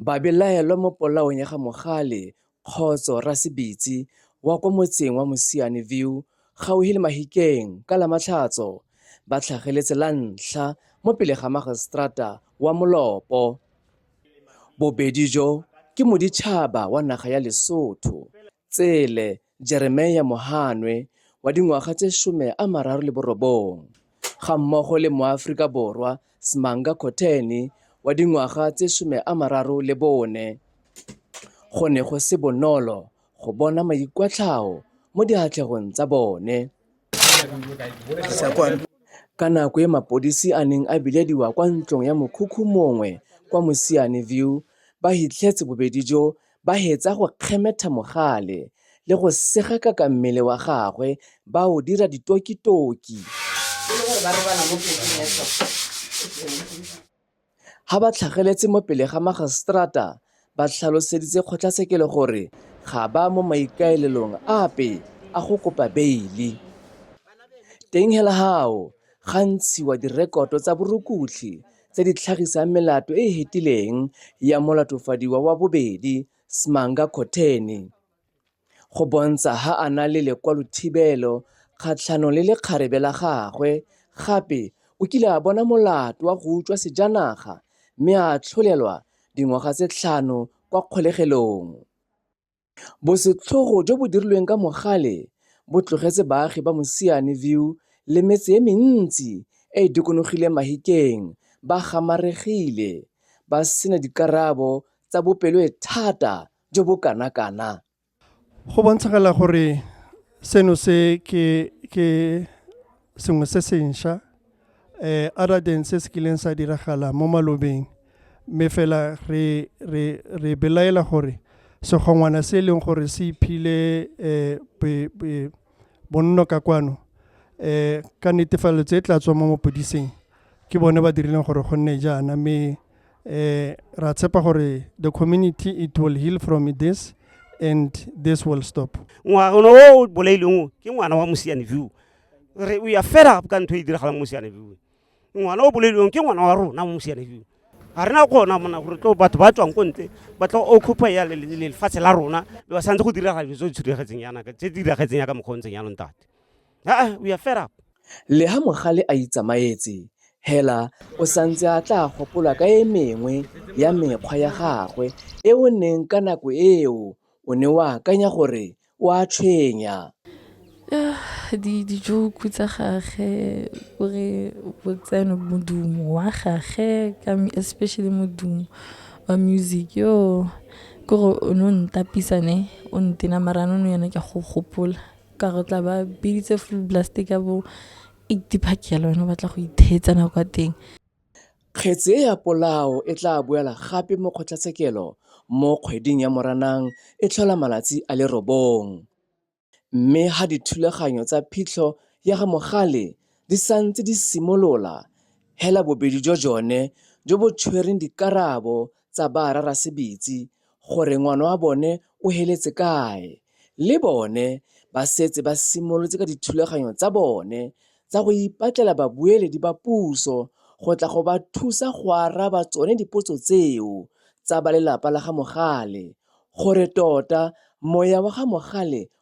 Babelaelwa mo polaong ya ga Mogale Kgotso Rasebitsi wa kwa motseng wa Mosiane View gauhi le Mahikeng ka Lamatlhatso ba tlhageletse la ntlha mo pele ga Mageseterata wa Molopo. Bobedi jo ke moditšhaba wa naga ya Lesotho, tsele Jeremia Mohanwe wa dingwaga tse 39 gammogo le moAforika Borwa Smanga Khotheni wa dingwaga tse 34, go ne go se bonolo go bona maikwatlhao mo diatlhegong tsa bone. Ka nako e mapodisi a neng a bilediwa kwa ntlong ya mokhukhu mongwe kwa Mosiane View, ba hitlhetse bobedi jo Ba hetsa go kgemetha mogale le go segakaka mmele wa gagwe ba o dira ditokitoki. E le gore ba robala mo pekeng ya tlhogo. Ha ba tlhageletse mo pele ga Mageseterata ba tlhaloseditse kgotlatshekelo gore ga ba mo maikaelelong ape a go kopa beili. Teng hela hao ga ntshiwa direkoto tsa borukutlhi tse di tlhagisang melato e e hetileng ya molatofadiwa wa bobedi Smanga Khotheni go bontsha ha a na le lekwalothibelo kgatlhanong le lekgarebe la gagwe gape o kile a bona molato wa go utswa sejanaga mme a atlholelwa dingwaga tse tlhano kwa kgolegelong. Bosetlhogo jo bo dirilweng ka mogale bo tlogetse baagi ba Mosiane View le metse e mentsi e e dikonogileng Mahikeng ba gamaregile, ba sena dikarabo tsa bopeloethata jo bo kanakana. Go bontshagala gore seno se ke. sengwe se sentšha um other than se se kileng sa diragala mo malobeng mme fela re re re belaela gore segongwana se e leng gore se iphile um bonno ka kwano um ka netefalo tse e tla tswa mo mapodiseng ke bone ba dirileng gore go nne jaana mme um ra tshepa gore the community it will heal from this and this will stop ngwana o bolaileng o ke ngwana wa mosiane view re o ya fela ka ntho e e diragalang mo seanefio ngwana o bolediwang ke ngwana wa rona mo seanefio ga rena gona mona gore tlo batho ba tswang ko ntle ba tla occupy ya lefatshe la rona ba santse go diraga dilo tse di tshudegetseng yanaka tse di diragetseng yaka mokgwa o ntseng yanong tate aa o ya fed up le ha mogale a itsamaetse hela o santse a tla gopola ka e mengwe ya mekgwa ya gagwe e o neng ka nako eo o ne o akanya gore O a tshwenya. Di di-joke tsa gagwe o re o tsene modumo wa gagwe ka especially modumo wa music yo ke gore o ne o ntapisa ne o ntena mara no yone ke go gopola ka go tla ba biditse full blast ka bo eighty park yalo wena o batla go itheetsa nako ya teng. Kgetse e ya polao e tla boela gape mo kgotlatshekelo mo kgweding ya Moranang e tlhola malatsi a le robong. Mme ha dithulaganyo tsa phitlho ya ga Mogale di santse di simolola, hela bobedi jwa jone jo bo tshwereng dikarabo tsa ba Rarasebitsi gore ngwana wa bone o heletse kae, le bone ba setse ba simolotse ka dithulaganyo tsa bone tsa go ipatlela babueledi ba puso go tla go ba thusa go araba tsone dipotso tseo tsa ba lelapa la ga Mogale gore tota moya wa ga Mogale